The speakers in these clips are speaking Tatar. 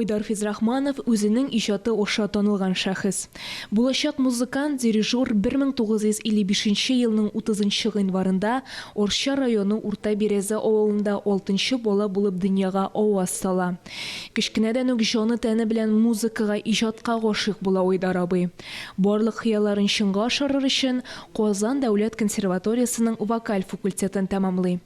Айдар Физрахманов, үзенең иҗаты аша танылган шәхес. Булачак музыкант, дирижер 1955 елның 30 гыйнварында Арча районы Урта Бирәзә авылында алтынчы бала булып дөньяга аваз сала. Кечкенәдән үк җаны-тәне белән музыкага, иҗатка гашыйк була Айдар абый. Барлык хыялларын чынга ашырыр өчен, Казан дәүләт консерваториясенең вокаль факультетын тәмамлый.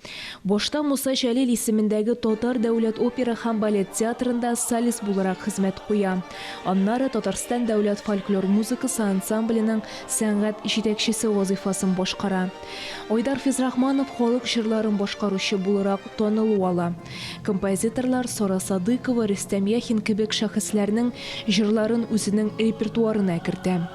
Башта Муса Җәлил исемендәге Татар дәүләт опера һәм балет театрында солист буларак хезмәт куя. Аннары Татарстан дәүләт фольклор музыкасы ансамбленең сәнгать җитәкчесе вазыйфасын башкара. Айдар Физрахманов халык җырларын башкаручы буларак танылу ала. Композиторлар Сара Садыйкова, Рөстәм Яхин кебек шәхесләрнең җырларын үзенең репертуарына кертә.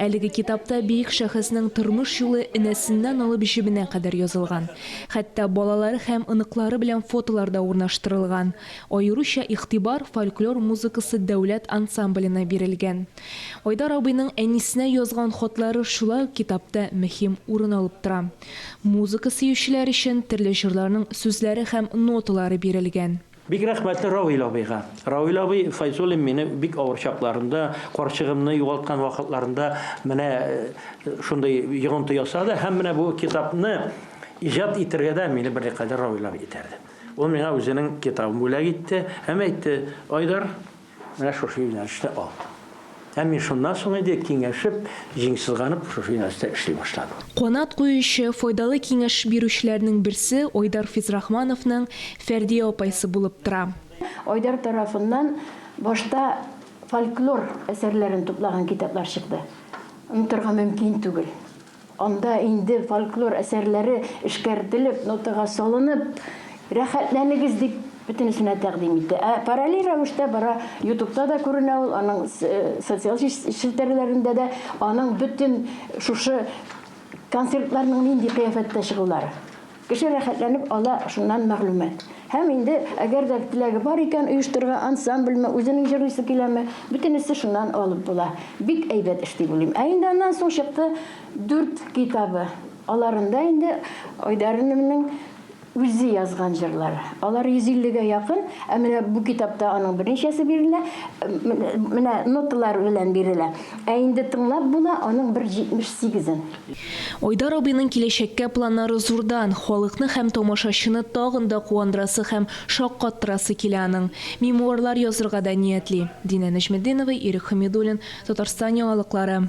Әлеге китапта бөек шәхеснең тормыш юлы энәсеннән алып җебенә кадәр язылган. Хәтта балалары һәм оныклары белән фотолар да урнаштырылган. Аеруча игътибар фольклор музыкасы дәүләт ансамбленә бирелгән. Айдар абыйның әнисенә язган хатлары шулай ук китапта мөһим урын алып тора. Музыка сөючеләр өчен төрле җырларның сүзләре һәм ноталары бирелгән. Бик рәхмәтле Равил абыйга. Равил абый Файзуллин мине бик авыр чакларында, карчыгымны югалткан вакытларында менә шундый йогынты ясады һәм менә бу китапны иҗат итергә дә мине берникадәр Равил абый этәрде. Ул миңа үзенең китабын бүләк итте һәм әйтте, Айдар, Менә шушы юнәлештә алдым. Һәм мин шуннан соң инде киңәшеп, җиңсызганып шушы юнәлештә эшли башладым. Канат куючы, файдалы киңәш бирүчеләрнең берсе Айдар Физрахмановның Фәрдия апайсы булып тора. Айдар тарафыннан башта фольклор әсәрләрен туплаган китаплар чыкты. Онытырга мөмкин түгел. Анда инде фольклор әсәрләре эшкәртелеп, нотага салынып, рәхәтләнегез дип бөтенесенә тәкъдим итә. Ә параллель рәвештә бара, Ютубта да күренә ул, аның социаль челтәрләрендә дә, аның бөтен шушы концертларның нинди кыяфәттә чыгулары. Кеше рәхәтләнеп ала шуннан мәгълүмат. Һәм инде, әгәр дә теләге бар икән, оештырырга ансамбльме, үзенең җырлыйсы киләме, бөтенесе шуннан алып була. Бик әйбәт эш дип уйлыйм. Ә инде аннан соң чыкты дүрт китабы. Аларында инде Айдаринованың үзе язган җырлар. Алар 150 гә якын, ә менә бу китапта аның берничәсе бирелә, менә ноталар белән бирелә. Ә инде тыңлап була аның бер 78 ын. Айдар абыйның киләчәккә планнары зурдан, халыкны һәм тамашачыны тагын да куандырасы һәм шаккаттырасы килә аның. Мемуарлар язырга да ниятли. Динә Нәҗметдинова, Ирек Хәмидуллин, Татарстан яңалыклары.